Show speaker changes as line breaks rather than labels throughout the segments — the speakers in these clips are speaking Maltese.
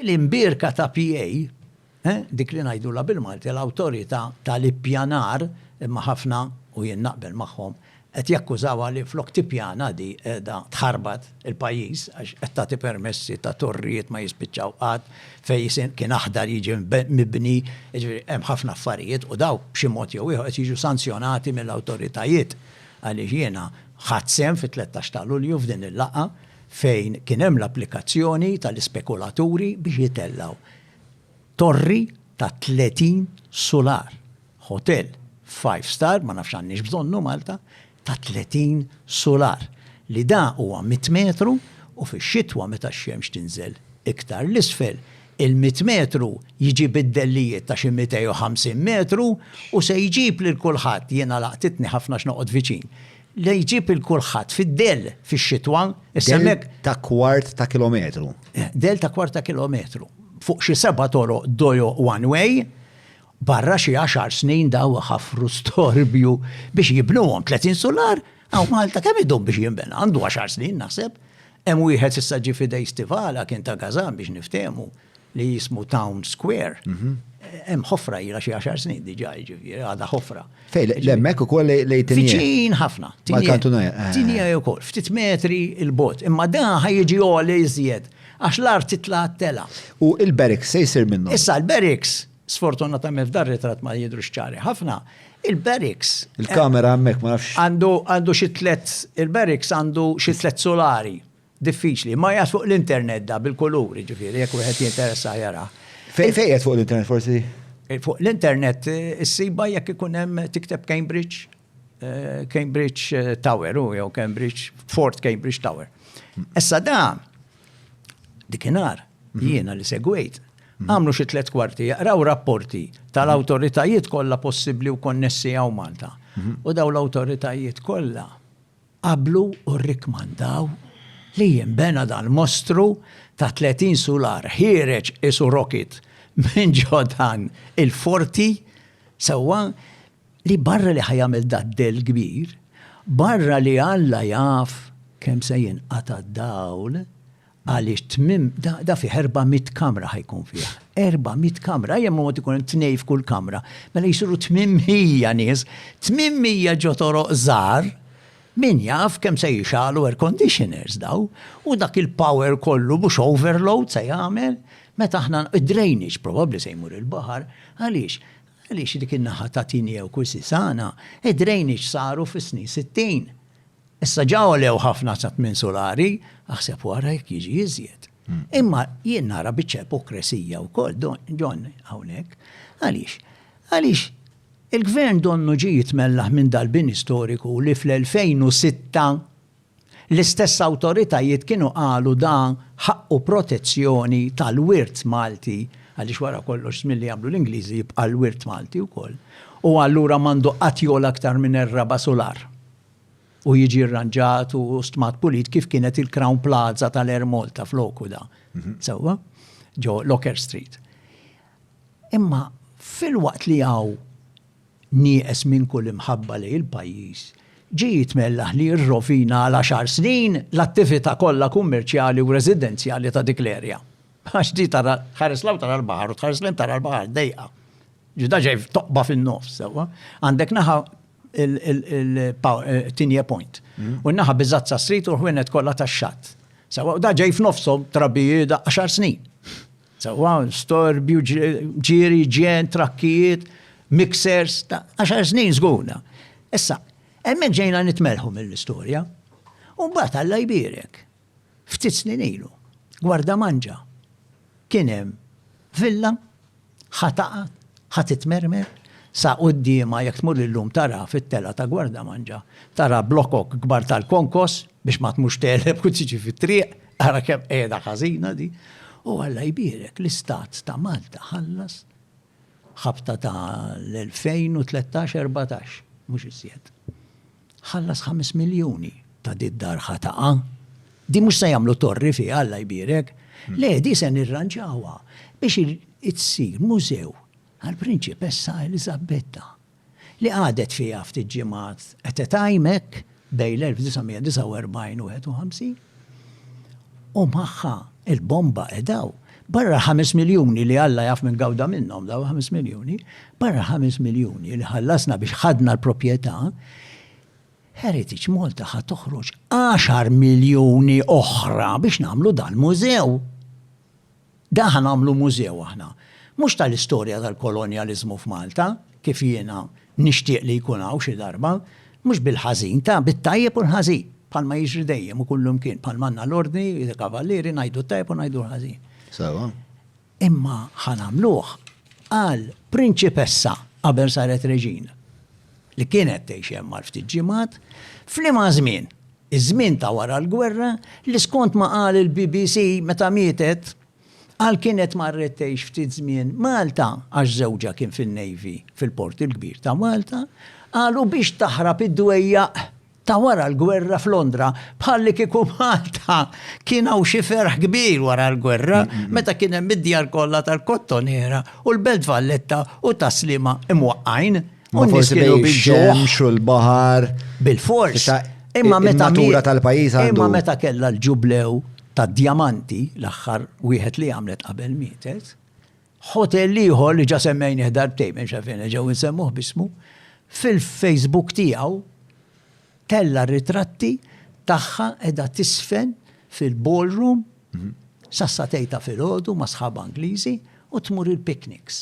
L-imbierka ta' PA, dik li ngħidulha bil-Malti l-Awtorità tal-Ippjanar, imma ħafna, u jien naqbel magħhom, qed jakkużawha li flok tippjana di qiegħda tħarbat il-pajjiż għax qed tagħti permessi ta' torrijiet ma jispiċċaw qatt, fejn kien aħdar jiġi mibni, jiġifieri hemm ħafna affarijiet u dawk b'xi mod jew ieħor qed jiġu sanzjonati mill-awtoritajiet għaliex jiena ħadt sehem fit-tlettax ta' Lulju f'din il-laqgħa fejn kien hemm l-applikazzjoni tal-ispekulaturi biex jitellgħu torri ta' 30 sular, ħotell five star, ma nafx għandniex bżonnu Malta, ta' 30 sular, li da huwa mitt metru u fix-xitwa meta x-xemx tinżel iktar 'l isfel, il-mitt metru jġib id-dellijiet ta' xi 250 metru u se jġib lil kulħadd, jiena laqtitni ħafna għax noqgħod viċin. Li jġib il kulħadd fid-dell fix-xitwa, issa hemmhekk. Ta'
kwart ta' kilometru. Dell ta' kwart ta'
kilometru. Fuq xi seba' toroq dojo one way, barra xi għaxar snin daw ħafru storbju biex jibnuhom 30 sular, hawn Malta kemm idum biex jinbena? Għandu għaxar snin naħseb. Hemm wieħed issa ġie f'idej Stivala kien ta' Gazan biex niftehmu li jismu Town Square. Mhm. Hemm ħofra ilha xi għaxar snin diġà jiġifieri għadha ħofra. Fej, l-emmek u
koll lej tinjie. Viċin ħafna.
Mal-kantunaja. Eh, eh. Tinjie
u koll, ftit
metri il-bot. Imma da ħajġi għoli iżjed, għax l-art titla għattela. U il-beriks
se jisir minnu? Issa l-beriks
Sfortunatament f'dan ritratt ma jidrux ċari ħafna. Il-barracks. Il-kamera hemmhekk
ma nafx. Għandu għandu xi tlet
il-barracks għandu xi tlet solari. Diffiċli, ma jgħas fuq l-internet da bil-kuluri ġifieri jekk wieħed jinteressa jara. Fejn fejn fuq
l-internet forsi? Eh, fuq
l-internet eh, issiba jekk ikun hemm tikteb Cambridge Cambridge Tower, u jew Cambridge, Fort Cambridge Tower. Issa da, dikinar, mhm. jiena li segwejt, mhm. għamlu xi tliet kwarti, jaqraw rapporti tal-awtoritajiet kollha possibbli u konnessi għaw Malta. Mhm. U daw l-awtoritajiet kollha qablu u rikmandaw li jimbena dal-mostru ta' 30 sular ħireġ isu rocket minn ġodan il-forti sewa Li barra li ħa jagħmel dad-dell kbir, barra li Alla jaf kemm se jinqata' d-dawl, għaliex tmiem da fih erba' mitt kamra ħa jkun fih. Erba' mitt kamra, ejja mod ikun hemm tnejn f'kull kamra, mela jsiru tmien mija nies, tmien mija ġo toroq żgħar, min jaf kemm se jixgħalu air conditioners daw, u dak il-power kollu mhux overload se jagħmel, meta aħna, id-drainage probabbli se jmur il-baħar, għaliex? Għaliex dik in-naħa ta' Tineo Quisisana id-drainage saru fis-snin sittin. Issa ġa għolew ħafna sa tmien sulari, aħseb u ara jekk jiġi iżjed. Imma jien nara biċċa ipokresija wkoll, John, hawnhekk. Għaliex? Għaliex il-Gvern donnu ġie jitmellaħ minn dal-bini storiku li fl-2006 L-istess awtoritajiet kienu qalu dan ħaqqu protezzjoni tal-wirt Malti, għaliex wara kollox żmien li jagħmlu l-Ingliżi jibqa' l-wirt Malti wkoll, u allura m'għandu qatt jogħla aktar minn er-raba' sular u jiġi rranġat u stmat pulit kif kienet il-Crown Plaza tal-Air Malta f'loku da, sewwa, ġo Locker Street. Imma filwaqt li hawn nieqes minn kull imħabba lejn il-pajjiż, ġie jitmellaħ li jirrovina għal għaxar snin l-attività kollha kummerċjali u residenzjali ta' dik l-erja. Għax di tara, tħares 'l hawn tara l-baħar u tħares 'l hinn tara l-baħar dejqa. Ġdida ġej f'toqba fin-nofs, sewwa. Għandek naħa il-Tinie Point. Mm. U naħa Bizazza Street u l-ħwienet kollha tax-xatt. Sewwa, u da ġej f'nofshom trabija da għaxar snin. Sewwa, storbju, ġieri, ġen, trakkijiet, mixers, ta' għaxar snin żgurna. Issa, hemmhekk ġejna nitmerħu mill-istorja. U mbagħad Alla jbierek. Ftit snin ilu, gwarda manġa. Kien hemm villa ħataqa ħat itmermer sa quddiema jekk tmur illum tara fit-tela ta' gwarda manġa, tara blokok kbar tal-konkos biex ma tmux teleb u tiġi fit-triq, Ara kemm qiegħda ħażina di. U Alla jbierek l-Istat ta' Malta ħallas ħabta ta' l-2013-14, mhux iżjed. Ħallas 5 miljuni ta' di d-dar ħataqa. Di mhux se jagħmlu torri fi Alla jbierek. Le, di se nirranġawha biex itsir mużew għall-Prinċipessa Eliżabetta. li qagħdet fiha ftit ġimgħat qed itgħajm hekk bejn l-1949 u 51, u magħha l-bomba qed hawn. Barra l-ħames miljuni li Alla jaf min gawda minnhom dawn il-ħames miljuni, barra l-ħames miljuni li ħallasna biex ħadna l-proprjetà, Heritage Malta ħa toħroġ għaxar miljuni oħra biex nagħmlu dal-mużew. Dan ħa nagħmlu mużew aħna. Mhux tal-istorja tal-kolonjaliżmu f'Malta, kif jiena nixtieq li jkun hawn xi darba, mhux bil-ħażin, ta' bit-tajjeb u l-ħażin, bħalma jiġri dejjem u kullimkien, bħalma għandna l-Ordni, il-Kavallieri, ngħidu t-tajjeb u ngħidu l-ħażin. Sewwa.
Imma
ħa nagħmluh għal prinċipessa qabel saret reġina, li kienet tgħix hemm għal ftit ġimgħat, f'liema żmien. iż-żmien ta' wara l-gwerra, li skont ma qal il-BBC meta mietet, qal kienet marret tgħix ftit żmien Malta għax żewġha kien fin-Navy fil-Port il-Kbir ta' Malta, qal u biex taħrab id-dwejjaq ta' wara l-gwerra f'Londra, bħallikieku Malta kien hawn xi ferħ kbir wara l-gwerra meta kien hemm id-djar kollha tal-kottoniera u l-Belt Valletta u tas-Sliema imwaqqgħin. U forsi kienu
bil-ġemx u l-bahar. Bil-fors.
Imma meta.
Natura tal-pajis għandu. Imma meta kella
l-ġublew ta' djamanti l-axħar wieħed li għamlet qabel mietet. Hotel liħor li ġa semmejni ħdarbtej minn xafin ġew nsemmuh bismu. Fil-Facebook tiegħu tella ritratti tagħha edha tisfen fil-ballroom Sassatej ta' filgħodu ma' sħabha Ingliżi u tmur il-picnics.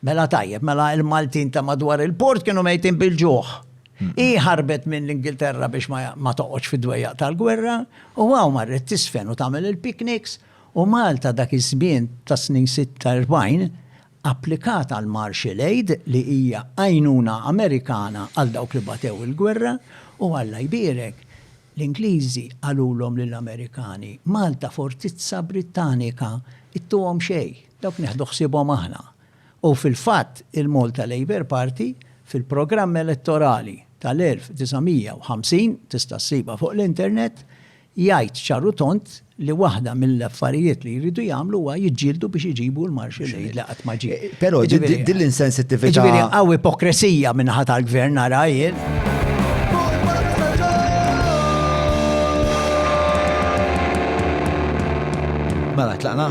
Mela tajjeb, mela il-Maltin ta' madwar il-port kienu mejtin bil-ġuħ. Hi ħarbet minn l-Ingilterra biex ma toqgħodx fid-dwejjaq tal-gwerra u hawn marret tiżfen u tagħmel il-picnics u Malta dak iż-żmien tas-snin 46 applikat għall-Marshall Aid li hija għajnuna Amerikana għal dawk li batew il-gwerra u Alla jbierek L-Ingliżi qalulhom lill-Amerikani, Malta fortizza Brittanika, ittuhom xejn, dawk nieħdu ħsiebhom aħna. U fil-fatt il-Malta Labour Party fil-programm elettorali tal-1950, tista' ssibha fuq l-internet, jgħid ċar u tond li waħda mill-affarijiet li jridu jagħmlu huwa jiġġieldu biex iġibu l-Marshall Aid li qatt ma ġie. Però din
l-insensittività. Ġifieri hawn
ipokresija minn ħadd tal-gvern nara jien.
Mela, tlaqna.